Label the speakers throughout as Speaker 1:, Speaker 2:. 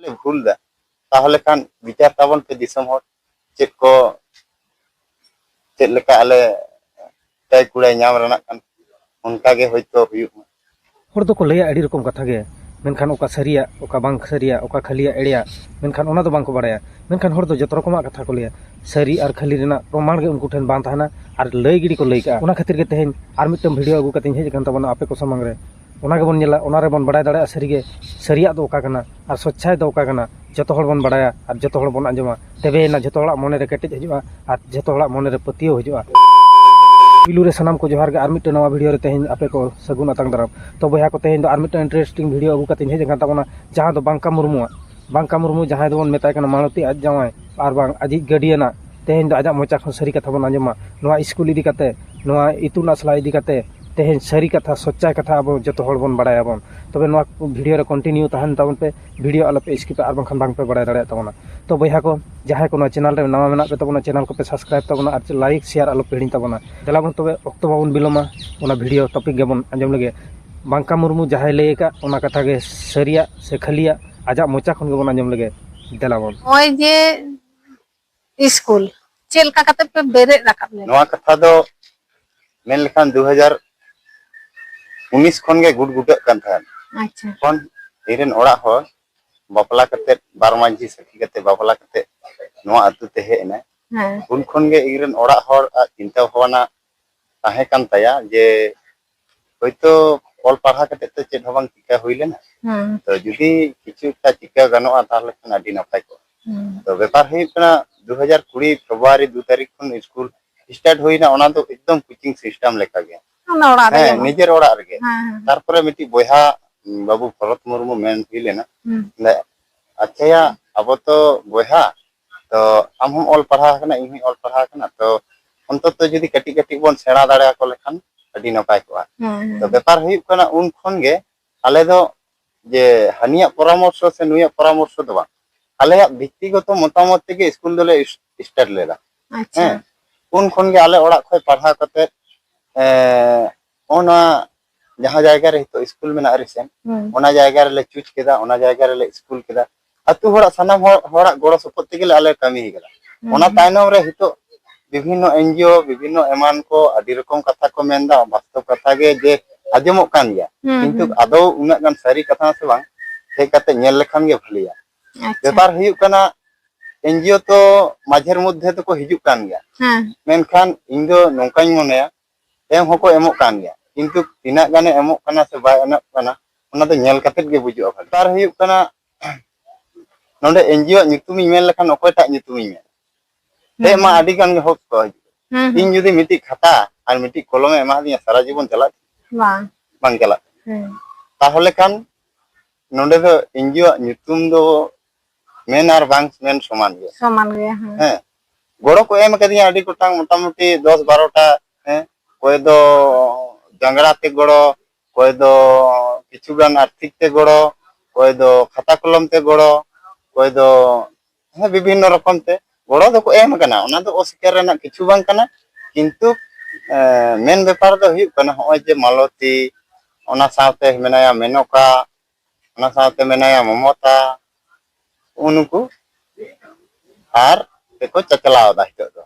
Speaker 1: ᱞᱮ ᱵᱷᱩᱞ ᱫᱟ ᱛᱟᱦᱚᱞᱮ ᱠᱷᱟᱱ ᱵᱤᱪᱟᱨ ᱛᱟᱵᱚᱱ ᱯᱮ ᱫᱤᱥᱚᱢ ᱦᱚᱲ ᱪᱮᱫ ᱠᱚ ᱪᱮᱫ ᱞᱮᱠᱟ ᱟᱞᱮ ᱪᱟᱭ ᱠᱩᱲᱟᱭ ᱧᱟᱢ ᱨᱮᱱᱟᱜ ᱠᱟᱱ ᱚᱱᱠᱟ ᱜᱮ ᱦᱚᱭᱛᱚ ᱦᱩᱭᱩᱜ ᱢᱟ ᱦᱚᱲ ᱫᱚᱠᱚ ᱞᱟᱹᱭᱟ ᱟᱹᱰᱤ ᱨᱚᱠᱚᱢ ᱠᱟᱛᱷᱟ ᱜᱮ ᱢᱮᱱᱠᱷᱟᱱ ᱚᱠᱟ ᱥᱟᱹᱨᱤᱭᱟ ᱚᱠᱟ ᱵᱟᱝ ᱥᱟᱹᱨᱤᱭᱟ ᱚᱠᱟ ᱠᱷᱟᱹᱞᱤᱭᱟ ᱮᱲᱮᱭᱟ ᱢᱮᱱᱠᱷᱟᱱ ᱚᱱᱟ ᱫᱚ ᱵᱟᱝ ᱠᱚ ᱵᱟᱲᱟᱭᱟ ᱢᱮᱱᱠᱷᱟᱱ ᱦᱚᱲ ᱫᱚ ᱡᱚᱛᱚ ᱨᱚᱠᱚᱢᱟᱜ ᱠᱟᱛᱷᱟ ᱠᱚ ᱞᱟᱹᱭᱟ ᱥᱟᱹᱨᱤ ᱟᱨ ᱠᱷᱟᱹᱞᱤ ᱨᱮᱱᱟᱜ ᱯᱨᱚᱢᱟᱱ ᱜᱮ ᱩᱱᱠᱩ ᱴᱷᱮᱱ ᱵᱟᱝ ᱛᱟᱦᱮᱱᱟ ᱟᱨ ᱞᱟᱹᱭ ᱜᱤᱰᱤ ᱠᱚ ᱞᱟᱹᱭ ᱠᱟᱜᱼᱟ ᱚᱱᱟ ᱠᱷᱟᱹᱛᱤᱨ ᱜᱮ ᱛᱮᱦᱮᱧ ᱟᱨ ᱢᱤᱫᱴᱟᱝ ᱵᱷᱤᱰᱤᱭᱳ ᱟᱹᱜᱩ ᱠᱟᱛᱮᱧ ᱦᱮᱡ ᱟᱠᱟᱱ ᱛᱟᱵᱚᱱᱟ ᱟᱯᱮ ᱠᱚ ᱥᱟᱢᱟᱝ ᱨᱮ ᱚᱱᱟ ᱜᱮᱵᱚᱱ ᱧᱮᱞᱟ ᱚᱱᱟ ᱨᱮᱵᱚᱱ ᱵᱟᱲᱟᱭ ᱫᱟᱲᱮᱭᱟᱜᱼᱟ ᱥᱟᱹᱨᱤᱜᱮ ᱥᱟᱹᱨᱤᱭᱟᱜ ᱫᱚ ᱚᱠᱟ ᱠᱟᱱᱟ ᱟᱨ ᱥᱚᱪᱪᱷᱟᱭ ᱫᱚ ᱚᱠᱟ ᱠᱟᱱᱟ ᱡᱚᱛᱚ ᱦᱚᱲ ᱵᱚᱱ ᱵᱟᱲᱟᱭᱟ ᱟᱨ ᱡᱚᱛᱚ ᱦᱚᱲ ᱵᱚᱱ ᱟᱸᱡᱚᱢᱟ ᱛᱚᱵᱮᱭᱮᱱᱟ ᱡᱚᱛᱚ ᱦᱚᱲᱟᱜ ᱢᱚᱱᱮ ᱨᱮ ᱠᱮᱴᱮᱡ ᱦᱤᱡᱩᱜᱼᱟ ᱟᱨ ᱡᱚᱛᱚ ᱦᱚᱲᱟᱜ ᱢᱚᱱᱮ ᱨᱮ ᱯᱟᱹᱛᱭᱟᱹᱣ ᱦᱤᱡᱩᱜᱼᱟ ᱯᱩᱭᱞᱩ ᱨᱮ ᱥᱟᱱᱟᱢ ᱠᱚ ᱡᱚᱦᱟᱨ ᱜᱮ ᱟᱨ ᱢᱤᱫᱴᱮᱱ ᱱᱟᱣᱟ ᱵᱷᱤᱰᱤᱭᱳ ᱨᱮ ᱛᱮᱦᱮᱧ ᱟᱯᱮ ᱠᱚ ᱥᱟᱹᱜᱩᱱ ᱟᱛᱟᱝ ᱫᱟᱨᱟᱢ ᱛᱚ ᱵᱚᱭᱦᱟ ᱠᱚ ᱛᱮᱦᱮᱧ ᱫᱚ ᱟᱨ ᱢᱤᱫᱴᱮᱱ ᱤᱱᱴᱟᱨᱮᱥᱴᱤᱝ ᱵᱷᱤᱰᱤᱭᱳ ᱟᱹᱜᱩ ᱠᱟᱛᱮᱧ ᱦᱮᱡ ᱟᱠᱟᱱ ᱛᱟᱵᱚᱱᱟ ᱡᱟᱦᱟᱸ ᱫᱚ ᱵᱟᱝᱠᱟ ᱢᱩᱨᱢᱩᱣᱟᱜ ᱵᱟᱝᱠᱟ ᱢᱩᱨᱢᱩ ᱡᱟᱦᱟᱸᱭ ᱫᱚᱵᱚᱱ ᱢᱮᱛᱟᱭ ᱠᱟᱱᱟ ᱢᱟᱞᱚᱛᱤ ᱟᱡ ᱡᱟᱶᱟᱭ ᱟᱨ ᱵᱟᱝ ᱟᱡᱤᱡ ᱜᱟᱹᱰᱤᱭᱟᱱ ᱟᱜ ᱛᱮᱦᱮᱧ ᱫᱚ ᱟᱡᱟᱜ ᱢᱚᱪᱟ ᱠᱷᱚᱱ ᱥᱟᱹᱨᱤ ᱠᱟᱛᱷᱟ ᱵᱚᱱ ᱟᱸᱡᱚᱢᱟ ᱱᱚᱣᱟ ᱤᱥᱠᱩᱞ ᱤᱫᱤ ᱠᱟᱛᱮ ᱱᱚᱣᱟ ᱤᱛᱩᱱ ᱟᱥᱲᱟ ᱤᱫᱤ ᱠᱟᱛᱮ ᱛᱮᱦᱮᱧ ᱥᱟᱹᱨᱤ ᱠᱟᱛᱷᱟ ᱥᱚᱪᱟᱭ ᱠᱟᱛᱷᱟ ᱟᱵᱚ ᱡᱚᱛᱚ ᱦᱚᱲ ᱵᱚᱱ ᱵᱟᱲᱟᱭᱟ ᱵᱚᱱ ᱛᱚᱵᱮ ᱱᱚᱣᱟ ᱵᱷᱤᱰᱤᱭᱳ ᱨᱮ ᱠᱚᱱᱴᱤᱱᱤᱭᱩ ᱛᱟᱦᱮᱱ ᱛᱟᱵᱚᱱ ᱯᱮ ᱵᱷᱤᱰᱤᱭᱳ ᱟᱞᱚ ᱯᱮ ᱤᱥᱠᱤᱯᱟ ᱟᱨ ᱵᱟᱝᱠᱷᱟᱱ ᱵᱟᱝ ᱯᱮ ᱵᱟᱲᱟᱭ ᱫᱟᱲᱮᱭᱟᱜ ᱛᱟᱵᱚᱱᱟ ᱛᱚ ᱵᱚᱭᱦᱟ ᱠᱚ ᱡᱟᱦᱟᱸᱭ ᱠᱚ ᱱᱚᱣᱟ ᱪᱮᱱᱮᱞ ᱨᱮ ᱱᱟᱣᱟ ᱢᱮᱱᱟᱜ ᱯᱮ ᱛᱟᱵᱚᱱᱟ ᱪᱮᱱᱮᱞ ᱠᱚᱯᱮ ᱥᱟᱵᱥᱠᱨᱟᱭᱤᱵᱽ ᱛᱟᱵᱚᱱᱟ ᱟᱨ ᱞᱟᱭᱤᱠ ᱥᱮᱭᱟᱨ ᱟᱞᱚ ᱯᱮ ᱦᱤᱲᱤᱧ ᱛᱟᱵᱚᱱᱟ ᱫᱮᱞᱟ ᱵᱚᱱ ᱛᱚᱵᱮ ᱚᱠᱛᱚ ᱵᱟᱵᱚᱱ ᱵᱤᱞᱚᱢᱟ ᱚᱱᱟ ᱵᱷᱤᱰᱤᱭᱳ ᱴᱚᱯᱤᱠ ᱜᱮᱵᱚᱱ ᱟᱸᱡᱚᱢ ᱞᱮᱜᱮ ᱵᱟᱝᱠᱟ ᱢᱩᱨᱢᱩ ᱡᱟᱦᱟᱸᱭ ᱞᱟᱹᱭ ᱟᱠᱟᱫ ᱚᱱᱟ ᱠᱟᱛᱷᱟ ᱜᱮ ᱥᱟᱹᱨᱤᱭᱟᱜ ᱥᱮ ᱠᱷᱟᱹᱞᱤᱭᱟᱜ ᱟᱡᱟᱜ ᱢᱚᱪᱟ ᱠᱷᱚᱱ ᱜᱮᱵᱚᱱ ᱟᱸᱡᱚᱢ ᱞᱮᱜᱮ ᱫᱮᱞᱟ ᱵᱚᱱ ᱱᱚᱜᱼᱚᱭ ᱡᱮ ᱥᱠᱩᱞ ᱪᱮᱫ ᱞᱮᱠᱟ ᱠᱟᱛᱮ ᱯᱮ ᱵᱮᱨᱮᱫ ᱨᱟᱠᱟᱵ ᱞᱮᱱᱟ ᱱᱚᱣᱟ ᱠᱟᱛᱷᱟ ᱫᱚ ᱢᱮᱱ ᱞᱮᱠᱷᱟᱱ ᱫᱩ ᱦᱟᱡᱟᱨ ᱩᱱᱤᱥ ᱠᱷᱚᱱ ᱜᱮ ᱜᱩᱰ ᱜᱩᱰᱟᱹᱜ ᱠᱟᱱ ᱛᱟᱦᱮᱸᱫ ᱟᱪᱪᱷᱟ ᱛᱚᱠᱷᱚᱱ ᱤᱧ ᱨᱮᱱ ᱚᱲᱟᱜ ᱦᱚᱲ ᱵᱟᱯᱞᱟ ᱠᱟᱛᱮ ᱵᱟᱨ ᱢᱟᱺᱡᱷᱤ ᱥᱟᱹᱠᱷᱤ ᱠᱟᱛᱮ ᱵᱟᱯᱞᱟ ᱠᱟᱛᱮ ᱱᱚᱣᱟ ᱟᱹᱛᱩ ᱛᱮ ᱦᱮᱡ ᱮᱱᱟᱭ ᱦᱮᱸ ᱩᱱ ᱠᱷᱚᱱ ᱜᱮ ᱤᱧ ᱨᱮᱱ ᱚᱲᱟᱜ ᱦᱚᱲ ᱟᱜ ᱪᱤᱱᱛᱟᱹ ᱵᱷᱟᱵᱽᱱᱟ ᱛᱟᱦᱮᱸ ᱠᱟᱱ ᱛᱟᱭᱟ ᱡᱮ ᱦᱳᱭᱛᱳ ᱚᱞ ᱯᱟᱲᱦᱟᱣ ᱠᱟᱛᱮ ᱛᱚ ᱪᱮᱫ ᱦᱚᱸ ᱵᱟᱝ ᱪᱤᱠᱟ ᱦᱩᱭ ᱞᱮᱱᱟ ᱦᱮᱸ ᱛᱚ ᱡᱩᱫᱤ ᱠᱤᱪᱷᱩ ᱮᱠᱴᱟ ᱪᱤᱠᱟ ᱜᱟᱱᱚᱜᱼᱟ ᱛᱟᱦᱚᱞᱮ ᱠᱷᱟᱱ ᱟᱹᱰᱤ ᱱᱟᱯᱟᱭ ᱠᱚᱜᱼᱟ ᱦᱮᱸ ᱛᱚ ᱵᱮᱯᱟᱨ ᱦᱩᱭᱩᱜ ᱠᱟᱱᱟ ᱫᱩ ᱦᱟᱡᱟᱨ ᱠᱩᱲᱤ ᱯᱷᱮᱵᱽᱨᱩᱣᱟᱨᱤ ᱫᱩ ᱛᱟᱹᱨᱤᱠᱷ ᱠᱷᱚᱱ ᱥᱠᱩᱞ ᱥᱴᱟᱨᱴ ᱦᱩᱭᱱᱟ ᱚᱱᱟ ᱫᱚ ᱮᱠᱫᱚᱢ ᱠᱳᱪᱤᱝ ᱥᱤᱥᱴᱮᱢ ᱞᱮᱠᱟ ᱜᱮ ᱚᱱᱟ ᱚᱲᱟᱜ ᱨᱮᱜᱮ ᱦᱮᱸ ᱵᱟᱝ ᱱᱤᱡᱮᱨ ᱚᱲᱟᱜ ᱨᱮᱜᱮ ᱦᱮᱸ ᱦᱮᱸ ᱛᱟᱨᱯᱚᱨᱮ ᱢᱤᱫᱴᱤᱡ ᱵᱚᱭᱦᱟ ᱵᱟᱹᱵᱩ ᱵᱷᱚᱨᱚᱛ ᱢᱩᱨᱢᱩ ᱢᱮᱱ ᱦᱩᱭ ᱞᱮᱱᱟ ᱦᱩᱸ ᱟᱪᱪᱷᱟᱭᱟ ᱟᱵᱚ ᱛᱚ ᱵᱚᱭᱦᱟ ᱛᱚ ᱟᱢ ᱦᱚᱸᱢ ᱚᱞ ᱯᱟᱲᱦᱟᱣ ᱟᱠᱟᱱᱟ ᱤᱧ ᱦᱚᱸᱧ ᱚᱞ ᱯᱟᱲᱦᱟᱣ ᱟᱠᱟᱱᱟ ᱛᱚ ᱚᱱᱛᱚᱛᱚ ᱡᱩᱫᱤ ᱠᱟᱹᱴᱤᱡ ᱠᱟᱹᱴᱤᱡ ᱵᱚᱱ ᱥᱮᱬᱟ ᱫᱟᱲᱮ ᱟᱠᱚ ᱞᱮᱠᱷᱟᱱ ᱟᱹᱰᱤ ᱱᱟᱯᱟᱭ ᱠᱚᱜᱼᱟ ᱛᱚ ᱵᱮᱯᱟᱨ ᱦᱩᱭᱩᱜ ᱠᱟᱱᱟ ᱩᱱ ᱠᱷᱚᱱ ᱜᱮ ᱟᱞᱮ ᱫᱚ ᱡᱮ ᱦᱟᱹᱱᱤᱭᱟᱜ ᱯᱚᱨᱟᱢᱚᱨᱥᱚ ᱥᱮ ᱱᱩᱭᱟᱜ ᱯᱚᱨᱟᱢᱚᱨᱥᱚ ᱫᱚ ᱵᱟᱝ ᱟᱞᱮᱭᱟᱜ ᱵᱷᱤᱛᱛᱤᱜᱚᱛᱚ ᱢᱚᱛᱟᱢᱚᱛ ᱛᱮᱜᱮ ᱥᱠᱩᱞ ᱫᱚᱞᱮ ᱥᱴᱟᱨᱴ ᱞᱮᱫᱟ ᱦᱮᱸ ᱩᱱ ᱠᱷᱚᱱ ᱜᱮ ᱟᱞᱮ ᱚᱲᱟᱜ ᱠᱷᱚᱱ ᱯᱟᱲᱦᱟᱣ ᱠᱟᱛᱮ ᱚᱱᱟ ᱡᱟᱦᱟᱸ ᱡᱟᱭᱜᱟ ᱨᱮ ᱱᱤᱛᱚᱜ ᱥᱠᱩᱞ ᱢᱮᱱᱟᱜᱼᱟ ᱨᱤᱥᱮᱱᱴ ᱚᱱᱟ ᱡᱟᱭᱜᱟ ᱨᱮᱞᱮ ᱪᱩᱡᱽ ᱠᱮᱫᱟ ᱚᱱᱟ ᱡᱟᱭᱜᱟ ᱨᱮᱞᱮ ᱥᱠᱩᱞ ᱠᱮᱫᱟ ᱟᱛᱳ ᱦᱚᱲᱟᱜ ᱥᱟᱱᱟᱢ ᱦᱚᱲ ᱦᱚᱲᱟᱜ ᱜᱚᱲᱚ ᱥᱚᱯᱚᱦᱚᱫ ᱛᱮᱜᱮ ᱟᱞᱮ ᱠᱟᱹᱢᱤ ᱠᱟᱫᱟ ᱚᱱᱟ ᱛᱟᱭᱱᱚᱢ ᱨᱮ ᱱᱤᱛᱚᱜ ᱵᱤᱵᱷᱤᱱᱱᱚ ᱮᱱᱡᱤᱳ ᱵᱤᱵᱷᱤᱱᱱᱚ ᱮᱢᱟᱱ ᱠᱚ ᱟᱹᱰᱤ ᱨᱚᱠᱚᱢ ᱠᱟᱛᱷᱟ ᱠᱚ ᱢᱮᱱᱫᱟ ᱵᱟᱥᱛᱚᱵ ᱠᱟᱛᱷᱟ ᱜᱮ ᱡᱮ ᱟᱸᱡᱚᱢᱚᱜ ᱠᱟᱱ ᱜᱮᱭᱟ ᱠᱤᱱᱛᱩ ᱟᱫᱚ ᱩᱱᱟᱹᱜ ᱜᱟᱱ ᱥᱟᱹᱨᱤ ᱠᱟᱛᱷᱟ ᱥᱮ ᱵᱟᱝ ᱦᱮᱡ ᱠᱟᱛᱮ ᱧᱮᱞ ᱞᱮᱠᱷᱟᱱ ᱜᱮ ᱵᱷᱟᱹᱞᱤᱭᱟ ᱵᱮᱯᱟᱨ ᱦᱩᱭᱩᱜ ᱠᱟᱱᱟ ᱮᱱᱡᱤᱳ ᱛᱚ ᱢᱟᱡᱷᱮᱨ ᱢᱚᱫᱽᱫᱷᱮ ᱛᱮᱠᱚ ᱦᱤᱡᱩᱜ ᱠᱟᱱ ᱜᱮᱭᱟ ᱢᱮᱱᱠᱷᱟᱱ ᱤᱧ ᱫᱚ ᱱᱚᱝᱠᱟᱧ ᱢᱚᱱᱮᱭᱟ ᱮᱢ ᱦᱚᱸᱠᱚ ᱮᱢᱚᱜ ᱠᱟᱱ ᱜᱮᱭᱟ ᱠᱤᱱᱛᱩ ᱛᱤᱱᱟᱹᱜ ᱜᱟᱱᱮ ᱮᱢᱚᱜ ᱠᱟᱱᱟ ᱥᱮ ᱵᱟᱭ ᱮᱢᱚᱜ ᱠᱟᱱᱟ ᱚᱱᱟ ᱫᱚ ᱧᱮᱞ ᱠᱟᱛᱮ ᱜᱮ ᱵᱩᱡᱩᱜᱼᱟ ᱵᱷᱟᱜᱮ ᱟᱨ ᱦᱩᱭᱩᱜ ᱠᱟᱱᱟ ᱱᱚᱰᱮ ᱮᱱᱡᱤᱳ ᱟᱜ ᱧᱩᱛᱩᱢᱤᱧ ᱢᱮᱱ ᱞᱮᱠᱷᱟᱱ ᱚᱠᱚᱭᱴᱟᱜ ᱧᱩᱛᱩᱢᱤᱧ ᱢᱮᱱᱟ ᱦᱮᱡ ᱢᱟ ᱟᱹᱰᱤ ᱜᱟᱱ ᱜᱮ ᱦᱚᱲ ᱠᱚ ᱦᱤᱡᱩᱜᱼᱟ ᱦᱩᱸ ᱤᱧ ᱦᱩᱸ ᱡᱩᱫᱤ ᱢᱤᱫᱴᱤᱡ ᱠᱷᱟᱛᱟ ᱟᱨ ᱢᱤᱫᱴᱤᱡ ᱠᱚᱞᱚᱢᱮ ᱮᱢᱟᱫᱤᱧᱟ ᱥᱟᱨᱟ ᱡᱤᱵᱚᱱ ᱪᱟᱞᱟᱜ ᱵᱟᱝ ᱵᱟᱝ ᱪᱟᱞᱟᱜ ᱦᱩᱸ ᱛᱟᱦᱚᱞᱮ ᱠᱷᱟᱱ ᱱᱚᱰᱮ ᱫᱚ ᱮᱱᱡᱤᱳ ᱟᱜ ᱧᱩᱛᱩᱢ ᱫᱚ ᱢᱮᱱ ᱟᱨ ᱵᱟᱝ ᱢᱮᱱ ᱥᱚᱢᱟᱱ ᱜᱮᱭᱟ ᱥᱚᱢᱟᱱ ᱜᱮᱭᱟ ᱦᱮᱸ ᱜᱚᱲᱚ ᱠᱚ ᱮᱢ ᱟᱠᱟᱫᱤᱧᱟ ᱟᱹᱰᱤ ᱜᱚᱴᱟᱝ ᱢᱚᱴᱟᱢᱩᱴᱤ ᱫᱚᱥ ᱵᱟᱨᱚᱴᱟ ᱦᱮᱸ ᱚᱠᱚᱭ ᱫᱚ ᱡᱟᱝᱜᱽᱲᱟ ᱛᱮ ᱜᱚᱲᱚ ᱚᱠᱚᱭ ᱫᱚ ᱠᱤᱪᱷᱩ ᱜᱟᱱ ᱟᱨᱛᱷᱤᱠ ᱛᱮ ᱜᱚᱲᱚ ᱚᱠᱚᱭ ᱫᱚ ᱠᱷᱟᱛᱟ ᱠᱚᱞᱚᱢ ᱛᱮ ᱜᱚᱲᱚ ᱚᱠᱚᱭ ᱫᱚ ᱦᱮᱸ ᱵᱤᱵᱷᱤᱱᱱᱚ ᱨᱚᱠᱚᱢ ᱛᱮ ᱜᱚᱲᱚ ᱫᱚᱠᱚ ᱮᱢ ᱟᱠᱟᱱᱟ ᱚᱱᱟ ᱫᱚ ᱚᱥᱤᱠᱟᱨ ᱨᱮᱱᱟᱜ ᱠᱤᱪᱷᱩ ᱵᱟᱝ ᱠᱟᱱᱟ ᱠᱤᱱᱛᱩ ᱢᱮᱱ ᱵᱮᱯᱟᱨ ᱫᱚ ᱦᱩᱭᱩᱜ ᱠᱟᱱᱟ ᱱᱚᱜᱼᱚᱭ ᱡᱮ ᱢᱟᱞᱚᱛᱤ ᱚᱱᱟ ᱥᱟᱶᱛᱮ ᱢᱮᱱᱟᱭᱟ ᱢᱮᱱᱚᱠᱟ ᱚᱱᱟ ᱥᱟᱶᱛᱮ ᱢᱮᱱᱟᱭᱟ ᱢᱚᱢᱚᱛᱟ ᱩᱱᱠᱩ ᱟᱨ ᱛᱮᱠᱚ ᱪᱟᱪᱞᱟᱣ ᱮᱫᱟ ᱱᱤᱛᱚᱜ ᱫᱚ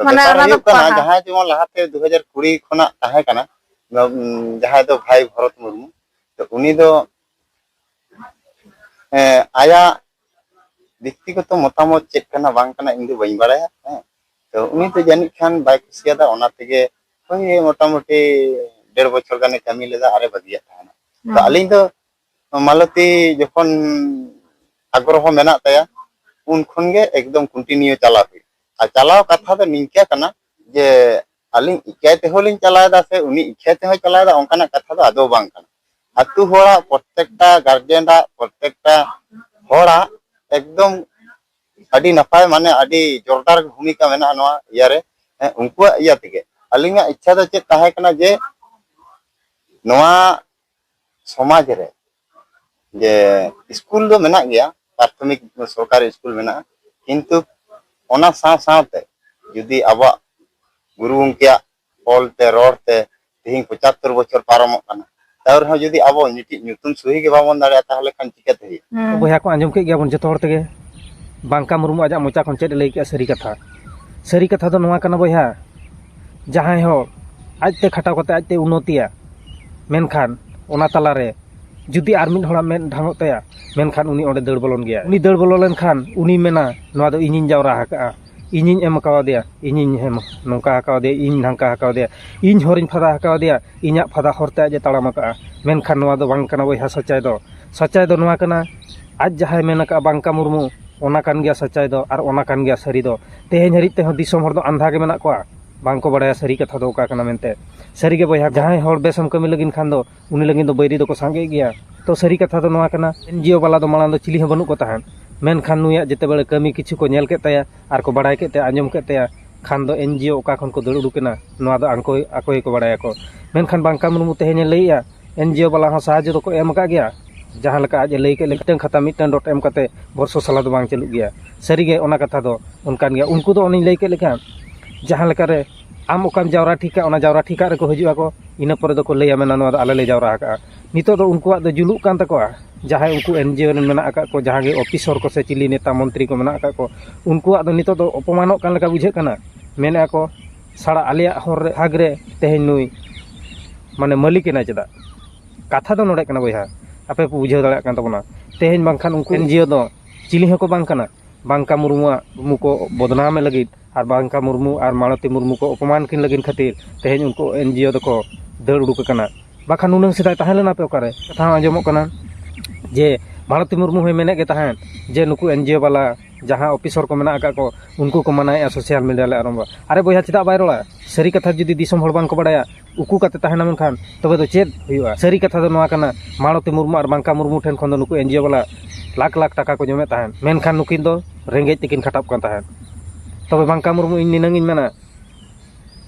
Speaker 1: ᱢᱟᱱᱮ ᱵᱮᱯᱟᱨ ᱚᱱᱟ ᱫᱚ ᱦᱩᱭᱩᱜ ᱠᱟᱱᱟ ᱯᱟᱲᱦᱟᱣ᱾ ᱡᱟᱦᱟᱸᱭ ᱡᱮᱢᱚᱱ ᱞᱟᱦᱟᱛᱮ ᱫᱩ ᱦᱟᱡᱟᱨ ᱠᱩᱲᱤ ᱠᱷᱚᱱᱟᱜ ᱛᱟᱦᱮᱸ ᱠᱟᱱᱟ ᱩᱢ, ᱡᱟᱦᱟᱸᱭ ᱫᱚ ᱵᱷᱟᱭ ᱵᱷᱚᱨᱚᱛ ᱢᱩᱨᱢᱩ ᱛᱚ ᱩᱱᱤ ᱫᱚ ᱮᱸ, ᱟᱭᱟᱜ ᱵᱮᱠᱛᱤᱜᱚᱛᱚ ᱢᱚᱛᱟᱢᱚᱛ ᱪᱮᱫ ᱠᱟᱱᱟ ᱵᱟᱝ ᱠᱟᱱᱟ ᱤᱧ ᱫᱚ ᱵᱟᱹᱧ ᱵᱟᱲᱟᱭᱟ ᱦᱮᱸ ᱛᱚ ᱩᱱᱤ ᱫᱚ ᱡᱟᱹᱱᱤᱡ ᱠᱷᱟᱱ ᱵᱟᱭ ᱠᱩᱥᱤᱭᱟᱫᱟ ᱚᱱᱟ ᱛᱮᱜᱮ ᱵᱟᱝᱜᱮ ᱢᱚᱴᱟᱢᱩᱴᱤ ᱰᱮᱲ ᱵᱚᱪᱷᱚᱨ ᱜᱟᱱᱮ ᱠᱟᱹᱢᱤ ᱞᱮᱫᱟ ᱟᱨᱮ ᱵᱟᱹᱜᱤᱭᱟᱜ ᱛᱟᱦᱮᱱᱟ ᱛᱚ ᱟᱹᱞᱤᱧ ᱫᱚ ᱢᱟᱞᱚᱛᱤ ᱡᱚᱠᱷᱚᱱ ᱟᱜᱽᱨᱚᱦᱚ ᱢᱮᱱᱟᱜ ᱛᱟᱭᱟ ᱩᱱ ᱠᱷᱚᱱ ᱜᱮ ᱮᱠᱫᱚᱢ ᱠᱚᱱᱴᱤᱱᱤᱭᱩ ᱪᱟᱞᱟᱣ ᱦᱩᱭᱩᱜ ᱟᱨ ᱪᱟᱞᱟᱣ ᱠᱟᱛᱷᱟ ᱫᱚ ᱱᱤᱝᱠᱟᱹ ᱠᱟᱱᱟ ᱡᱮ ᱟᱹᱞᱤᱧ ᱤᱠᱟᱹᱭ ᱛᱮᱦᱚᱸ ᱞᱤᱧ ᱪᱟᱞᱟᱣᱮᱫᱟ ᱥᱮ ᱩᱱᱤ ᱤᱠᱷᱟᱹᱭ ᱛᱮᱦᱚᱸ ᱪᱟᱞᱟᱣᱮᱫᱟ ᱚᱱᱠᱟᱱᱟᱜ ᱠᱟᱛᱷᱟ ᱫᱚ ᱟᱫᱚ ᱵᱟᱝ ᱠᱟᱱᱟ ᱟᱛᱳ ᱦᱚᱲᱟᱜ ᱯᱨᱚᱛᱮᱠᱴᱟ ᱜᱟᱨᱡᱮᱱᱟᱜ ᱯᱨᱚᱛᱮᱠᱴᱟ ᱦᱚᱲᱟᱜ ᱮᱠᱫᱚᱢ ᱟᱹᱰᱤ ᱱᱟᱯᱟᱭ ᱢᱟᱱᱮ ᱟᱹᱰᱤ ᱡᱳᱨᱫᱟᱨ ᱵᱷᱩᱢᱤᱠᱟ ᱢᱮᱱᱟᱜᱼᱟ ᱱᱚᱣᱟ ᱤᱭᱟᱹ ᱨᱮ ᱩᱱᱠᱩᱣᱟᱜ ᱤᱭᱟᱹ ᱛᱮᱜᱮ ᱟᱹᱞᱤᱧᱟᱜ ᱤᱪᱪᱷᱟ ᱫᱚ ᱪᱮᱫ ᱛᱟᱦᱮᱸ ᱠᱟᱱᱟ ᱡᱮ ᱱᱚᱣᱟ ᱥᱚᱢᱟᱡᱽ ᱨᱮ ᱡᱮ ᱥᱠᱩᱞ ᱫᱚ ᱢᱮᱱᱟᱜ ᱜᱮᱭᱟ ᱯᱨᱟᱛᱷᱚᱢᱤᱠ ᱥᱚᱨᱠᱟᱨᱤ ᱥᱠᱩᱞ ᱢᱮᱱᱟᱜᱼᱟ ᱠᱤᱱᱛᱩ ᱚᱱᱟ ᱥᱟᱶ ᱥᱟᱶᱛᱮ ᱡᱩᱫᱤ ᱟᱵᱚᱣᱟᱜ ᱜᱩᱨᱩ ᱜᱚᱢᱠᱮᱭᱟᱜ ᱚᱞ ᱛᱮ ᱨᱚᱲ ᱛᱮ ᱛᱮᱦᱮᱧ ᱯᱚᱸᱪᱟᱛᱛᱳᱨ ᱵᱚᱪᱷᱚᱨ ᱯᱟᱨᱚᱢᱚᱜ ᱠᱟᱱᱟ ᱛᱟᱣ ᱨᱮᱦᱚᱸ ᱡᱩᱫᱤ ᱟᱵᱚ ᱢᱤᱫᱴᱤᱡ ᱧᱩᱛᱩᱢ ᱥᱩᱦᱤ ᱜᱮ ᱵᱟᱵᱚᱱ ᱫᱟᱲᱮᱭᱟᱜᱼᱟ ᱛᱟᱦᱚᱞᱮ ᱠᱷᱟᱱ ᱪᱤᱠᱟᱹᱛᱮ ᱦᱩᱭᱩᱜᱼᱟ ᱦᱩᱸ ᱵᱚᱭᱦᱟ ᱠᱚ ᱟᱸᱡᱚᱢ ᱠᱮᱫ ᱜᱮᱭᱟᱵᱚᱱ ᱡᱚᱛᱚ ᱦᱚᱲ ᱛᱮᱜᱮ ᱵᱟᱝᱠᱟ ᱢᱩᱨᱢᱩ ᱟᱡᱟᱜ ᱢᱚᱪᱟ ᱠᱷᱚᱱ ᱪᱮᱫ ᱮ ᱞᱟᱹᱭ ᱠᱮᱜᱼᱟ ᱥᱟᱹᱨᱤ ᱠᱟᱛᱷᱟ ᱥᱟᱹᱨᱤ ᱠᱟᱛᱷᱟ ᱫᱚ ᱱᱚᱣᱟ ᱠᱟᱱᱟ ᱵᱚᱭᱦᱟ ᱡᱟᱦᱟᱸᱭ ᱦᱚᱲ ᱟᱡᱛᱮ ᱠᱷᱟᱴᱟᱣ ᱠᱟᱛᱮ ᱟᱡᱛᱮ ᱩᱱᱱᱚᱛᱤᱭᱟ ᱢᱮᱱᱠᱷᱟᱱ ᱚᱱᱟ ᱛᱟᱞᱟᱨᱮ ᱡᱩᱫᱤ ᱟᱨ ᱢᱤᱫ ᱦᱚᱲᱟᱜ ᱢᱮᱫ ᱰᱷᱟᱝᱚᱜ ᱛᱟᱭᱟ ᱢᱮᱱᱠᱷᱟᱱ ᱩᱱᱤ ᱚᱸᱰᱮ ᱫᱟᱹᱲ ᱵᱚᱞᱚᱱ ᱜᱮᱭᱟ ᱩᱱᱤ ᱫᱟᱹᱲ ᱵᱚᱞᱚ ᱞᱮᱱᱠᱷᱟᱱ ᱩᱱᱤ ᱢᱮᱱᱟ ᱱᱚᱣᱟ ᱫᱚ ᱤᱧᱤᱧ ᱡᱟᱣᱨᱟ ᱟᱠᱟᱜᱼᱟ ᱤᱧᱤᱧ ᱮᱢ ᱠᱟᱣᱫᱮᱭᱟ ᱤᱧᱤᱧ ᱱᱚᱝᱠᱟ ᱠᱟᱣᱫᱮᱭᱟ ᱤᱧ ᱱᱷᱟᱝᱠᱟ ᱠᱟᱣᱫᱮᱭᱟ ᱤᱧ ᱦᱚᱨᱤᱧ ᱯᱷᱟᱫᱟ ᱠᱟᱣᱫᱮᱭᱟ ᱤᱧᱟᱹᱜ ᱯᱷᱟᱫᱟ ᱦᱚᱨ ᱛᱮ ᱟᱡ ᱮ ᱛᱟᱲᱟᱢ ᱠᱟᱜᱼᱟ ᱢᱮᱱᱠᱷᱟᱱ ᱱᱚᱣᱟ ᱫᱚ ᱵᱟᱝ ᱠᱟᱱᱟ ᱵᱚᱭᱦᱟ ᱥᱚᱸᱪᱟᱭ ᱫᱚ ᱥᱚᱸᱪᱟᱭ ᱫᱚ ᱱᱚᱣᱟ ᱠᱟᱱᱟ ᱟᱡ ᱡᱟᱦᱟᱸᱭ ᱢᱮᱱ ᱠᱟᱜᱼᱟ ᱵᱟᱝᱠᱟ ᱢᱩᱨᱢᱩ ᱚᱱᱟ ᱠᱟᱱ ᱜᱮᱭᱟ ᱥᱚᱸᱪᱟᱭ ᱫᱚ ᱟᱨ ᱚᱱᱟ ᱠᱟᱱ ᱜᱮᱭᱟ ᱥᱟᱹᱨᱤ ᱫᱚ ᱛᱮᱦᱮᱧ ᱦᱟᱹᱨᱤᱡ ᱛᱮᱦᱚᱸ ᱫᱤᱥᱚᱢ ᱦᱚᱲ ᱫᱚ ᱟᱱᱫᱷᱟ ᱜᱮ ᱢᱮᱱᱟᱜ ᱠᱚᱣᱟ ᱵᱟᱝᱠᱚ ᱵᱟᱲᱟᱭᱟ ᱥᱟᱹᱨᱤ ᱠᱟᱛᱷᱟ ᱫᱚ ᱚᱠᱟ ᱠᱟᱱᱟ ᱢᱮᱱᱛᱮ ᱥᱟᱹᱨᱤᱜᱮ ᱵᱚᱭᱦᱟ ᱡᱟᱦᱟᱸᱭ ᱦᱚᱲ ᱵᱮᱥ ᱮᱢ ᱠᱟᱹᱢᱤ ᱞᱟᱹᱜᱤᱫ ᱠᱷᱟᱱ ᱫᱚ ᱩᱱᱤ ᱞᱟᱹᱜᱤᱫ ᱫᱚ ᱵᱟᱹᱭᱨᱤ ᱫᱚᱠᱚ ᱥᱟᱸᱜᱮ ᱜᱮᱭᱟ ᱛᱚ ᱥᱟᱹᱨᱤ ᱠᱟᱛᱷᱟ ᱫᱚ ᱱᱚᱣᱟ ᱠᱟᱱᱟ ᱮᱱ ᱡᱤ ᱳ ᱵᱟᱞᱟ ᱫᱚ ᱢᱟᱲᱟᱝ ᱫᱚ ᱪᱤᱞᱤ ᱦᱚᱸ ᱵᱟᱹᱱᱩᱜ ᱠᱚ ᱛᱟᱦᱮᱸᱫ ᱢᱮᱱᱠᱷᱟᱱ ᱱᱩᱭᱟᱜ ᱡᱮᱛᱮ ᱵᱟᱲᱮ ᱠᱟᱹᱢᱤ ᱠᱤᱪᱷᱩ ᱠᱚ ᱧᱮᱞ ᱠᱮᱫ ᱛᱟᱭᱟ ᱟᱨ ᱠᱚ ᱵᱟᱲᱟᱭ ᱠᱮᱫ ᱛᱟᱭᱟ ᱟᱸᱡᱚᱢ ᱠᱮᱫ ᱛᱟᱭᱟ ᱠᱷᱟᱱ ᱫᱚ ᱮᱱ ᱡᱤ ᱳ ᱚᱠᱟ ᱠᱷᱚᱱ ᱠᱚ ᱫᱟᱹᱲ ᱩᱰᱩᱠ ᱮᱱᱟ ᱱᱚᱣᱟ ᱫᱚ ᱟᱠᱚ ᱟᱠᱚ ᱜᱮᱠᱚ ᱵᱟᱲᱟᱭᱟᱠᱚ ᱢᱮᱱᱠᱷᱟᱱ ᱵᱟᱝᱠᱟ ᱢᱩᱨᱢᱩ ᱛᱮᱦᱮᱧ ᱮ ᱞᱟᱹᱭᱮᱫᱼᱟ ᱮᱱ ᱡᱤ ᱳ ᱵᱟᱞᱟ ᱦᱚᱸ ᱥᱟᱦᱟᱡᱽᱡᱚ ᱫᱚᱠᱚ ᱮᱢ ᱟᱠᱟᱫ ᱜᱮᱭᱟ ᱡᱟᱦᱟᱸ ᱞᱮᱠᱟ ᱟᱡ ᱮ ᱞᱟᱹᱭ ᱠᱮᱫ ᱞᱮᱠᱟ ᱢᱤᱫᱴᱟᱹᱝ ᱠᱷᱟᱛᱟ ᱢᱤᱫᱴᱟᱹᱝ ᱰᱚᱴ ᱮᱢ ᱠᱟᱛᱮᱫ ᱵᱚᱨᱥᱚ ᱥᱟᱞᱟ ᱫᱚ ᱵᱟᱝ ᱪᱟᱹᱞᱩᱜ ᱜᱮᱭᱟ ᱥᱟᱹᱨᱤ ᱜᱮ ᱚᱱᱟ ᱠᱟᱛᱷᱟ ᱫᱚ ᱚᱱᱠᱟᱱ ᱜᱮᱭᱟ ᱩᱱᱠᱩ ᱫᱚ ᱚᱱᱮᱧ ᱞᱟᱹᱭ ᱠᱮᱫ ᱞᱮᱠᱟ ᱡᱟᱦᱟᱸ ᱞᱮᱠᱟ ᱨᱮ ᱟᱢ ᱚᱠᱟᱢ ᱡᱟᱣᱨᱟ ᱴᱷᱤᱠ ᱠᱟᱜᱼᱟ ᱚᱱᱟ ᱡᱟᱣᱨᱟ ᱴᱷᱤᱠ ᱠᱟᱜ ᱨᱮᱠᱚ ᱦᱤᱡᱩᱜ ᱟᱠᱚ ᱤᱱᱟᱹ ᱯᱚᱨᱮ ᱫᱚᱠᱚ ᱞᱟᱹᱭᱟ ᱢᱮᱱᱟ ᱱᱚᱣᱟ ᱫᱚ ᱟᱞᱮ ᱞᱮ ᱡᱟᱣᱨᱟ ᱟᱠᱟᱫᱼᱟ ᱱᱤᱛᱚᱜ ᱫᱚ ᱩᱱᱠᱩᱣᱟᱜ ᱫᱚ ᱡᱩᱞᱩᱜ ᱠᱟᱱ ᱛᱟᱠᱚᱣᱟ ᱡᱟᱦᱟᱸᱭ ᱩᱱᱠᱩ ᱮᱱᱡᱤᱭᱳ ᱨᱮᱱ ᱢᱮᱱᱟᱜ ᱟᱠᱟᱫ ᱠᱚ ᱡᱟᱦᱟᱸ ᱜᱮ ᱚᱯᱷᱤᱥᱚᱨ ᱠᱚ ᱥᱮ ᱪᱤᱞᱤ ᱱᱮᱛᱟ ᱢᱚᱱᱛᱨᱤ ᱠᱚ ᱢᱮᱱᱟᱜ ᱟᱠᱟᱫ ᱠᱚ ᱩᱱᱠᱩᱣᱟᱜ ᱫᱚ ᱱᱤᱛᱚᱜ ᱫᱚ ᱚᱯᱚᱢᱟᱱᱚᱜ ᱠᱟᱱ ᱞᱮᱠᱟ ᱵᱩᱡᱷᱟᱹᱜ ᱠᱟᱱᱟ ᱢᱮᱱ ᱮᱫᱟ ᱠᱚ ᱥᱟᱞᱟ ᱟᱞᱮᱭᱟᱜ ᱦᱚᱨ ᱨᱮ ᱦᱟᱠ ᱨᱮ ᱛᱮᱦᱮᱧ ᱱᱩᱭ ᱢᱟᱱᱮ ᱢᱟᱹᱞᱤᱠ ᱮᱱᱟᱭ ᱪᱮᱫᱟᱜ ᱠᱟᱛᱷᱟ ᱫᱚ ᱱᱚᱰᱮ ᱠᱟᱱᱟ ᱵᱚᱭᱦᱟ ᱟᱯᱮ ᱯᱮ ᱵᱩᱡᱷᱟᱹᱣ ᱫᱟᱲᱮᱭᱟᱜ ᱠᱟᱱ ᱛᱟᱵᱚᱱᱟ ᱛᱮᱦᱮᱧ ᱵᱟᱝᱠᱷᱟᱱ ᱩᱱᱠᱩ ᱮᱱᱡᱤᱭᱳ ᱫᱚ ᱪᱤᱞᱤ ᱦᱚᱸᱠᱚ ᱵᱟᱝ ᱠᱟᱱᱟ ᱵᱟᱝᱠᱟ ᱢᱩᱨᱢᱩᱣᱟᱜ ᱢᱩᱠᱚ ᱵᱚᱫᱽᱱᱟᱢᱮ ᱞᱟᱹᱜᱤᱫ ᱟᱨ ᱵᱟᱝᱠᱟ ᱢᱩᱨᱢᱩ ᱟᱨ ᱢᱟᱞᱚᱛᱤ ᱢᱩᱨᱢᱩ ᱠᱚ ᱚᱯᱚᱢᱟᱱ ᱠᱤᱱ ᱞᱟᱹᱜᱤᱫ ᱠᱷᱟᱹᱛᱤᱨ ᱛᱮᱦᱮᱧ ᱩᱱᱠᱩ ᱮᱱᱡᱤᱭᱳ ᱫᱚᱠᱚ ᱫᱟᱹᱲ ᱩᱰᱩᱠ ᱟᱠᱟᱱᱟ ᱵᱟᱠᱷᱟᱱ ᱱᱩᱱᱟᱹᱝ ᱥᱮᱫᱟᱭ ᱛᱟᱦᱮᱸ ᱞᱮᱱᱟ ᱯᱮ ᱚᱠᱟᱨᱮ ᱠᱟᱛᱷᱟ ᱦᱚᱸ ᱟᱸᱡᱚᱢᱚᱜ ᱠᱟᱱᱟ ᱡᱮ ᱢᱟᱞᱚᱛᱤ ᱢᱩᱨᱢᱩ ᱦᱚᱸᱭ ᱢᱮᱱᱮᱫ ᱜᱮ ᱛᱟᱦᱮᱸᱫ ᱡᱮ ᱱᱩᱠᱩ ᱮᱱᱡᱤᱭᱳ ᱵᱟᱞᱟ ᱡᱟᱦᱟᱸ ᱚᱯᱷᱤᱥᱚᱨ ᱠᱚ ᱢᱮᱱᱟᱜ ᱟᱠᱟᱫ ᱠᱚ ᱩᱱᱠᱩ ᱠᱚ ᱢᱟᱱᱟᱭᱮᱫᱼᱟ ᱥᱳᱥᱟᱞ ᱢᱤᱰᱤᱭᱟ ᱞᱮ ᱟᱬᱜᱚᱱᱟ ᱟᱨᱮ ᱵᱚᱭᱦᱟ ᱪᱮᱫᱟᱜ ᱵᱟᱭ ᱨᱚᱲᱟ ᱥᱟᱹᱨᱤ ᱠᱟᱛᱷᱟ ᱡᱩᱫᱤ ᱫᱤᱥᱚᱢ ᱦᱚᱲ ᱵᱟᱝᱠᱚ ᱵᱟᱲᱟᱭᱟ ᱩᱠᱩ ᱠᱟᱛᱮ ᱛᱟᱦᱮᱱᱟ ᱢᱮᱱᱠᱷᱟᱱ ᱛᱚᱵᱮ ᱫᱚ ᱪᱮᱫ ᱦᱩᱭᱩᱜᱼᱟ ᱥᱟᱹᱨᱤ ᱠᱟᱛᱷᱟ ᱫᱚ ᱱᱚᱣᱟ ᱠᱟᱱᱟ ᱢᱟᱞᱚᱛᱤ ᱢᱩᱨᱢᱩ ᱟᱨ ᱢᱟᱝᱠᱟ ᱢᱩᱨᱢᱩ ᱴᱷᱮᱱ ᱠᱷᱚᱱ ᱫᱚ ᱱᱩᱠᱩ ᱮᱱᱡᱤᱭᱳ ᱵᱟᱞᱟ ᱞᱟᱠᱷ ᱞᱟᱠᱷ ᱴᱟᱠᱟ ᱠᱚ ᱡᱚᱢᱮᱫ ᱛᱟᱦᱮᱸᱫ ᱢᱮᱱᱠᱷᱟᱱ ᱱᱩᱠᱤᱱ ᱫᱚ ᱨᱮᱸᱜᱮᱡ ᱛᱮᱠᱤᱱ ᱠᱷᱟᱴᱟᱜ ᱠᱟᱱ ᱛᱟᱦᱮᱸᱫ ᱛᱚᱵᱮ ᱢᱟᱝᱠᱟ ᱢᱩᱨᱢᱩ ᱤᱧ ᱱᱤᱱᱟᱹᱝ ᱤᱧ ᱢᱮᱱᱟ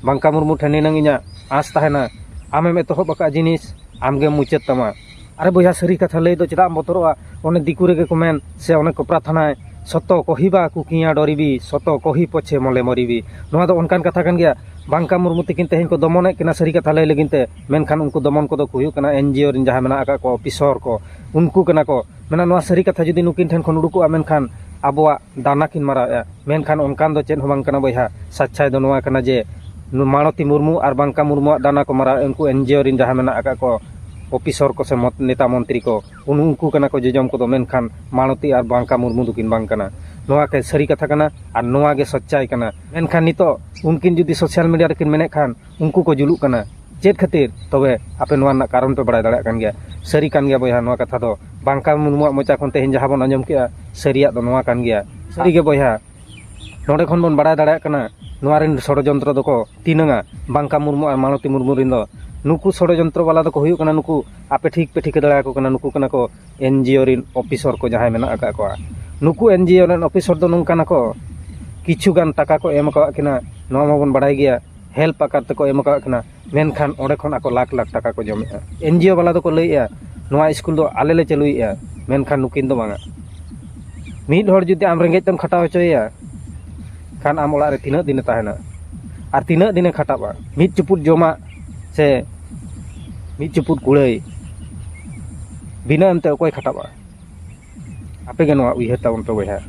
Speaker 1: ᱢᱟᱝᱠᱟ ᱢᱩᱨᱢᱩ ᱴᱷᱮᱱ ᱱᱤᱱᱟᱹᱝ ᱤᱧᱟᱹᱜ ᱟᱸᱥ ᱛᱟᱦᱮᱱᱟ ᱟᱢᱮᱢ ᱮᱛᱚᱦᱚᱵ ᱟᱠᱟᱫ ᱡᱤᱱᱤᱥ ᱟᱢᱜᱮᱢ ᱢᱩᱪᱟᱹᱫ ᱛᱟᱢᱟ ᱟᱨᱮ ᱵᱚᱭᱦᱟ ᱥᱟᱹᱨᱤ ᱠᱟᱛᱷᱟ ᱞᱟᱹᱭ ᱫᱚ ᱪᱮᱫᱟᱜ ᱮᱢ ᱵᱚᱛᱚᱨᱚᱜᱼᱟ ᱚᱱᱮ ᱫᱤᱠᱩ ᱨᱮᱜᱮ ᱠᱚ ᱢᱮᱱ ᱥᱮ ᱚᱱᱮ ᱠᱚ ᱯᱨᱟᱨᱛᱷᱟᱱᱟᱭ ᱥᱚᱛᱚ ᱠᱚᱦᱤᱵᱟ ᱠᱩᱠᱤᱭᱟ ᱰᱚᱨᱤᱵᱤ ᱥᱚᱛᱚ ᱠᱚᱦᱤ ᱯᱚᱪᱷᱮ ᱢᱚᱞᱮ ᱢᱚᱨᱤᱵᱤ ᱱᱚᱣᱟ ᱫᱚ ᱚᱱᱠᱟᱱ ᱠᱟᱛᱷᱟ ᱠᱟᱱ ᱜᱮᱭᱟ ᱵᱟᱝᱠᱟ ᱢᱩᱨᱢᱩ ᱛᱟᱹᱠᱤᱱ ᱛᱮᱦᱮᱧ ᱠᱚ ᱫᱚᱢᱚᱱᱮᱫ ᱠᱤᱱᱟ ᱥᱟᱹᱨᱤ ᱠᱟᱛᱷᱟ ᱞᱟᱹᱭ ᱞᱟᱹᱜᱤᱫ ᱛᱮ ᱢᱮᱱᱠᱷᱟᱱ ᱩᱱᱠᱩ ᱫᱚᱢᱚᱱ ᱠᱚᱫᱚ ᱠᱚ ᱦᱩᱭᱩᱜ ᱠᱟᱱᱟ ᱮᱱᱡᱤᱭᱳ ᱨᱮᱱ ᱡᱟᱦᱟᱸᱭ ᱢᱮᱱᱟᱜ ᱟᱠᱟᱫ ᱠᱚᱣᱟ ᱚᱯᱷᱤᱥᱚᱨ ᱠᱚ ᱩᱱᱠᱩ ᱠᱟᱱᱟ ᱠᱚ ᱢᱮᱱᱟ ᱱᱚᱣᱟ ᱥᱟᱹᱨᱤ ᱠᱟᱛᱷᱟ ᱡᱩᱫᱤ ᱱᱩᱠᱤᱱ ᱴᱷᱮᱱ ᱠᱷᱚᱱ ᱩᱰᱩᱠᱚᱜᱼᱟ ᱢᱮᱱᱠᱷᱟᱱ ᱟᱵᱚᱣᱟᱜ ᱫᱟᱱᱟ ᱠᱤᱱ ᱢᱟᱨᱟᱣᱮᱫᱼᱟ ᱢᱮᱱᱠᱷᱟᱱ ᱚᱱᱠᱟᱱ ᱫᱚ ᱪᱮᱫ ᱦᱚᱸ ᱵᱟᱝ ᱠᱟᱱᱟ ᱵᱚᱭᱦᱟ ᱥᱟᱪᱪᱷᱟᱭ ᱫᱚ ᱱᱚᱣᱟ ᱠᱟᱱᱟ ᱡᱮ ᱢᱟᱞᱚᱛᱤ ᱢᱩᱨᱢᱩ ᱟᱨ ᱵᱟᱝᱠᱟ ᱢᱩᱨᱢᱩᱣᱟᱜ ᱫᱟᱱᱟ ᱠᱚ ᱢᱟᱨᱟᱣᱮᱫᱼᱟ ᱩᱱᱠᱩ ᱮᱱᱡᱤᱭᱳ ᱨᱮᱱ ᱡᱟᱦᱟᱸᱭ ᱢᱮᱱᱟᱜ ᱟᱠᱟᱫ ᱠᱚ ᱚᱯᱷᱤᱥᱚᱨ ᱠᱚ ᱥᱮ ᱱᱮᱛᱟ ᱢᱚᱱᱛᱨᱤ ᱠᱚ ᱩᱱᱠᱩ ᱠᱟᱱᱟ ᱠᱚ ᱡᱚᱡᱚᱢ ᱠᱚᱫᱚ ᱢᱮᱱᱠᱷᱟᱱ ᱢᱟᱞᱚᱛᱤ ᱟᱨ ᱵᱟᱝᱠᱟ ᱢᱩᱨᱢᱩ ᱫᱚᱠᱤᱱ ᱵᱟᱝ ᱠᱟᱱᱟ ᱱᱚᱣᱟ ᱠᱤ ᱥᱟᱹᱨᱤ ᱠᱟᱛᱷᱟ ᱠᱟᱱᱟ ᱟᱨ ᱱᱚᱣᱟ ᱜᱮ ᱥᱚᱪᱪᱟᱭ ᱠᱟᱱᱟ ᱢᱮᱱᱠᱷᱟᱱ ᱱᱤᱛᱚᱜ ᱩᱱᱠᱤᱱ ᱡᱩᱫᱤ ᱥᱳᱥᱟᱞ ᱢᱤᱰᱤᱭᱟ ᱨᱮᱠᱤᱱ ᱢᱮᱱᱮᱫ ᱠᱷᱟᱱ ᱩᱱᱠᱩ ᱠᱚ ᱡᱩᱞᱩᱜ ᱠᱟᱱᱟ ᱪᱮᱫ ᱠᱷᱟᱹᱛᱤᱨ ᱛᱚᱵᱮ ᱟᱯᱮ ᱱᱚᱣᱟ ᱨᱮᱱᱟᱜ ᱠᱟᱨᱚᱱ ᱯᱮ ᱵᱟᱲᱟᱭ ᱫᱟᱲᱮᱭᱟᱜ ᱠᱟᱱ ᱜᱮᱭᱟ ᱥᱟᱹᱨᱤ ᱠᱟᱱ ᱜᱮᱭᱟ ᱵᱚᱭᱦᱟ ᱱᱚᱣᱟ ᱠᱟᱛᱷᱟ ᱫᱚ ᱵᱟᱝᱠᱟ ᱢᱩᱨᱢᱩᱣᱟᱜ ᱢᱚᱪᱟ ᱠᱷᱚᱱ ᱛᱮᱦᱮᱧ ᱡᱟᱦᱟᱸ ᱵᱚᱱ ᱟᱸᱡᱚᱢ ᱠᱮᱜᱼᱟ ᱥᱟᱹᱨᱤᱭᱟᱜ ᱫᱚ ᱱᱚᱣᱟ ᱠᱟᱱ ᱜᱮᱭᱟ ᱥᱟᱹᱨᱤ ᱜᱮ ᱵᱚᱭᱦᱟ ᱱᱚᱰᱮ ᱠᱷᱚᱱ ᱵᱚᱱ ᱵᱟᱲᱟᱭ ᱫᱟᱲᱮᱭᱟᱜ ᱠᱟᱱᱟ ᱱᱚᱣᱟ ᱨᱮᱱ ᱥᱚᱲᱚᱡᱚᱱᱛᱨᱚ ᱫᱚᱠᱚ ᱛᱤᱱᱟᱹᱝᱟ ᱵᱟᱝᱠᱟ ᱢᱩᱨᱢᱩ ᱟᱨ ᱢᱟᱞᱚᱛᱤ ᱢᱩᱨᱢᱩ ᱨᱮᱱ ᱫᱚ ᱱᱩᱠᱩ ᱥᱚᱲᱚᱡᱚᱱᱛᱨᱚ ᱵᱟᱞᱟ ᱫᱚᱠᱚ ᱦᱩᱭᱩᱜ ᱠᱟᱱᱟ ᱱᱩᱠᱩ ᱟᱯᱮ ᱴᱷᱤᱠ ᱯᱮ ᱴᱷᱤᱠᱟᱹ ᱫᱟᱲᱮᱭᱟᱠᱚ ᱠᱟᱱᱟ ᱱᱩᱠᱩ ᱠᱟᱱᱟ ᱠᱚ ᱮᱱ ᱡᱤ ᱳ ᱨᱮᱱ ᱚᱯᱷᱤᱥᱚᱨ ᱠᱚ ᱡᱟᱦᱟᱸᱭ ᱢᱮᱱᱟᱜ ᱟᱠᱟᱫ ᱠᱚᱣᱟ ᱱᱩᱠᱩ ᱮᱱ ᱡᱤ ᱳ ᱨᱮᱱ ᱚᱯᱷᱤᱥᱚᱨ ᱫᱚ ᱱᱚᱝᱠᱟᱱᱟ ᱠᱚ ᱠᱤᱪᱷᱩ ᱜᱟᱱ ᱴᱟᱠᱟ ᱠᱚ ᱮᱢ ᱠᱟᱜ ᱠᱤᱱᱟ ᱱᱚᱣᱟ ᱢᱟᱵᱚᱱ ᱵᱟᱲᱟᱭ ᱜᱮᱭᱟ ᱦᱮᱞᱯ ᱟᱠᱟᱨ ᱛᱮᱠᱚ ᱮᱢ ᱠᱟᱜ ᱠᱤᱱᱟ ᱢᱮᱱᱠᱷᱟᱱ ᱚᱸᱰᱮ ᱠᱷᱚᱱ ᱟᱠᱚ ᱞᱟᱠᱷ ᱞᱟᱠᱷ ᱴᱟᱠᱟ ᱠᱚ ᱡᱚᱢᱮᱜᱼᱟ ᱮᱱᱡᱤᱭᱳ ᱵᱟᱞᱟ ᱫᱚᱠᱚ ᱞᱟᱹᱭᱮᱜᱼᱟ ᱱᱚᱣᱟ ᱥᱠᱩᱞ ᱫᱚ ᱟᱞᱮ ᱞᱮ ᱪᱟᱹᱞᱩᱭᱮᱜᱼᱟ ᱢᱮᱱᱠᱷᱟᱱ ᱱᱩᱠᱤᱱ ᱫᱚ ᱵᱟᱝᱟ ᱢᱤᱫ ᱦᱚᱲ ᱡᱩᱫᱤ ᱟᱢ ᱨᱮᱸᱜᱮᱡ ᱛᱮᱢ ᱠᱷᱟᱴᱟᱣ ᱦᱚᱪᱚᱭᱮᱭᱟ ᱠᱷᱟᱱ ᱟᱢ ᱚᱲᱟᱜ ᱨᱮ ᱛᱤᱱᱟᱹᱜ ᱫᱤᱱᱮ ᱛᱟᱦᱮᱱᱟ ᱟᱨ ᱛᱤᱱᱟᱹᱜ ᱫᱤᱱᱮ ᱠᱷᱟᱴᱟᱜᱼᱟ ᱢᱤᱫ ᱪᱩᱯᱩᱫ ᱡᱚᱢᱟᱜ ᱥᱮ ᱢᱤᱫ ᱪᱩᱯᱩᱫ ᱠᱩᱲᱟᱹᱭ ᱵᱤᱱᱟᱹ ᱮᱢᱛᱮ ᱚᱠᱚᱭ ᱠᱷᱟᱴᱟᱜᱼᱟ ᱟᱯᱮᱜᱮ ᱱᱚᱣᱟ ᱩᱭᱦᱟᱹᱨ ᱛᱟᱵᱚᱱ ᱯᱮ ᱵᱚᱭᱦᱟ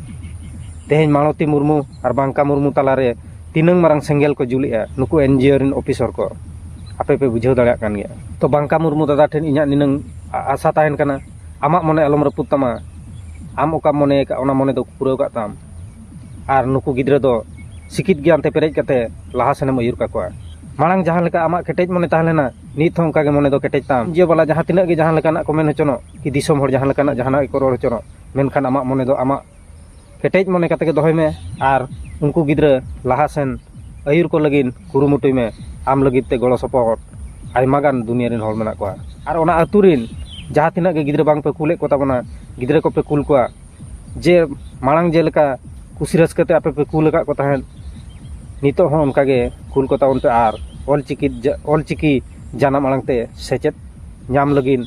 Speaker 1: ᱛᱮᱦᱮᱧ ᱢᱟᱞᱚᱛᱤ ᱢᱩᱨᱢᱩ ᱟᱨ ᱵᱟᱝᱠᱟ ᱢᱩᱨᱢᱩ ᱛᱟᱞᱟᱨᱮ ᱛᱤᱱᱟᱹᱝ ᱢᱟᱨᱟᱝ ᱥᱮᱸᱜᱮᱞ ᱠᱚ ᱡᱩᱞᱮᱜᱼᱟ ᱱᱩᱠᱩ ᱮᱱ ᱡᱤ ᱳ ᱨᱮᱱ ᱚᱯᱷᱤᱥᱚᱨ ᱠᱚ ᱟᱯᱮ ᱯᱮ ᱵᱩᱡᱷᱟᱹᱣ ᱫᱟᱲᱮᱭᱟᱜ ᱠᱟᱱ ᱜᱮᱭᱟ ᱛᱚ ᱵᱟᱝᱠᱟ ᱢᱩᱨᱢᱩ ᱫᱟᱫᱟ ᱴᱷᱮᱱ ᱤᱧᱟᱹᱜ ᱱᱤᱱᱟᱹᱝ ᱟᱥᱟ ᱛᱟᱦᱮᱱ ᱠᱟᱱᱟ ᱟᱢᱟᱜ ᱢᱚᱱᱮ ᱟᱞᱚᱢ ᱨᱟᱹᱯᱩᱫ ᱛᱟᱢᱟ ᱟᱢ ᱚᱠᱟᱢ ᱢᱚᱱᱮ ᱟᱠᱟᱫ ᱚᱱᱟ ᱢᱚᱱᱮ ᱫᱚ ᱯᱩᱨᱟᱹᱣ ᱠᱟᱜ ᱛᱟᱢ ᱟᱨ ᱱᱩᱠᱩ ᱜᱤᱫᱽᱨᱟᱹ ᱫᱚ ᱥᱤᱠᱷᱤᱛ ᱜᱮᱭᱟᱱ ᱛᱮ ᱯᱮᱨᱮᱡ ᱠᱟᱛᱮ ᱞᱟᱦᱟ ᱥᱮᱱᱮᱢ ᱟᱹᱭᱩᱨ ᱠᱟᱠᱚᱣᱟ ᱢᱟᱲᱟᱝ ᱡᱟᱦᱟᱸ ᱞᱮᱠᱟ ᱟᱢᱟᱜ ᱠᱮᱴᱮᱡ ᱢᱚᱱᱮ ᱛᱟᱦᱮᱸ ᱞᱮᱱᱟ ᱱᱤᱛ ᱦᱚᱸ ᱚᱱᱠᱟ ᱜᱮ ᱢᱚᱱᱮ ᱫᱚ ᱠᱮᱴᱮᱡ ᱛᱟᱢ ᱡᱤᱭᱳ ᱵᱟᱞᱟ ᱡᱟᱦᱟᱸ ᱛᱤᱱᱟᱹᱜ ᱜᱮ ᱡᱟᱦᱟᱸ ᱞᱮᱠᱟᱱᱟᱜ ᱠᱚ ᱢᱮᱱ ᱦᱚᱪᱚᱱᱚᱜ ᱠᱤ ᱫᱤᱥᱚᱢ ᱦᱚᱲ ᱡᱟᱦᱟᱸ ᱞᱮᱠᱟᱱᱟᱜ ᱡᱟᱦᱟᱱᱟᱜ ᱜᱮᱠᱚ ᱨᱚᱲ ᱦᱚᱪᱚᱱᱚᱜ ᱢᱮᱱᱠᱷᱟᱱ ᱟᱢᱟᱜ ᱢᱚᱱᱮ ᱫᱚ ᱟᱢᱟᱜ ᱠᱮᱴᱮᱡ ᱢᱚᱱᱮ ᱠᱟᱛᱮᱫ ᱜᱮ ᱫᱚᱦᱚᱭ ᱢᱮ ᱟᱨ ᱩᱱᱠᱩ ᱜᱤᱫᱽᱨᱟᱹ ᱞᱟᱦᱟ ᱥᱮᱱ ᱟᱹᱭᱩᱨ ᱠᱚ ᱞᱟᱹᱜᱤᱫ ᱠᱩᱨᱩᱢᱩᱴᱩᱭ ᱢᱮ ᱟᱢ ᱞᱟᱹᱜᱤᱫ ᱛᱮ ᱜᱚᱲᱚ ᱥᱚᱯᱚᱦᱚᱫ ᱟᱭᱢᱟ ᱜᱟᱱ ᱫᱩᱱᱤᱭᱟᱹ ᱨᱮᱱ ᱦᱚᱲ ᱢᱮᱱᱟᱜ ᱠᱚᱣᱟ ᱟᱨ ᱚᱱᱟ ᱟᱹᱛᱩ ᱨᱮᱱ ᱡᱟᱦᱟᱸ ᱛᱤᱱᱟᱹᱜ ᱜᱮ ᱜᱤᱫᱽᱨᱟᱹ ᱵᱟᱝ ᱯᱮ ᱠᱩᱞᱮᱫ ᱠᱚᱛᱟ ᱵᱚᱱᱟ ᱜᱤᱫᱽᱨᱟᱹ ᱠᱚᱯᱮ ᱠᱩᱞ ᱠᱚᱣᱟ ᱡᱮ ᱢᱟᱲᱟᱝ ᱡᱮᱞᱮᱠᱟ ᱠᱩᱥᱤ ᱨᱟᱹᱥᱠᱟᱹ ᱛᱮ ᱟᱯᱮ ᱯᱮ ᱠᱩᱞ ᱟᱠᱟᱫ ᱠᱚ ᱛᱟᱦᱮᱸᱫ ᱱᱤᱛᱚᱜ ᱦᱚᱸ ᱚᱱᱠᱟ ᱜᱮ ᱠᱩᱞ ᱠᱚᱛᱟ ᱵᱚᱱ ᱯᱮ ᱟᱨ ᱚᱞ ᱪᱤᱠᱤ ᱚᱞ ᱪᱤᱠᱤ ᱡᱟᱱᱟᱢ ᱟᱲᱟᱝ ᱛᱮ ᱥᱮᱪᱮᱫ ᱧᱟᱢ ᱞᱟᱹᱜᱤᱫ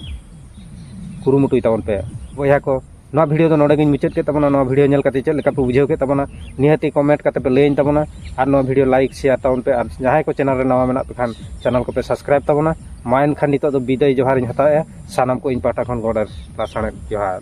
Speaker 1: ᱠᱩᱨᱩᱢᱩᱴᱩᱭ ᱛᱟᱵᱚᱱ ᱯᱮ ᱵᱚᱭᱦᱟ ᱠᱚ ᱱᱚᱣᱟ ᱵᱷᱤᱰᱤᱭᱳ ᱫᱚ ᱱᱚᱰᱮ ᱜᱤᱧ ᱢᱩᱪᱟᱹᱫ ᱠᱮᱫ ᱛᱟᱵᱚᱱᱟ ᱱᱚᱣᱟ ᱵᱷᱤᱰᱤᱭᱳ ᱧᱮᱞ ᱠᱟᱛᱮ ᱪᱮᱫ ᱞᱮᱠᱟ ᱯᱮ ᱵᱩᱡᱷᱟᱹᱣ ᱠᱮᱫ ᱛᱟᱵᱚᱱᱟ ᱱᱤᱦᱟᱹᱛ ᱜᱮ ᱠᱚᱢᱮᱱᱴ ᱠᱟᱛᱮ ᱯᱮ ᱞᱟᱹᱭᱟᱹᱧ ᱛᱟᱵᱚᱱᱟ ᱟᱨ ᱱᱚᱣᱟ ᱵᱷᱤᱰᱤᱭᱳ ᱞᱟᱭᱤᱠ ᱥᱮᱭᱟᱨ ᱛᱟᱵᱚᱱ ᱯᱮ ᱟᱨ ᱡᱟᱦᱟᱸᱭ ᱠᱚ ᱪᱮᱱᱮᱞ ᱨᱮ ᱱᱟᱣᱟ ᱢᱮᱱᱟᱜ ᱯᱮ ᱠᱷᱟᱱ ᱪᱮᱱᱮᱞ ᱠᱚᱯᱮ ᱥᱟᱵᱥᱠᱨᱟᱭᱤᱵᱽ ᱛᱟᱵᱚᱱᱟ ᱢᱟ ᱮᱱᱠᱷᱟᱱ ᱱᱤᱛᱚᱜ ᱫᱚ ᱵᱤᱫᱟᱹᱭ ᱡᱚᱦᱟᱨᱤᱧ ᱦᱟᱛᱟᱣᱮᱫᱼᱟ ᱥᱟᱱᱟᱢ ᱠᱚ ᱤᱧ ᱯᱟᱦᱴᱟ ᱠᱷᱚᱱ ᱜᱚᱰ ᱟᱨ ᱞᱟᱥᱟᱬᱦᱮᱫ ᱡᱚᱦᱟᱨ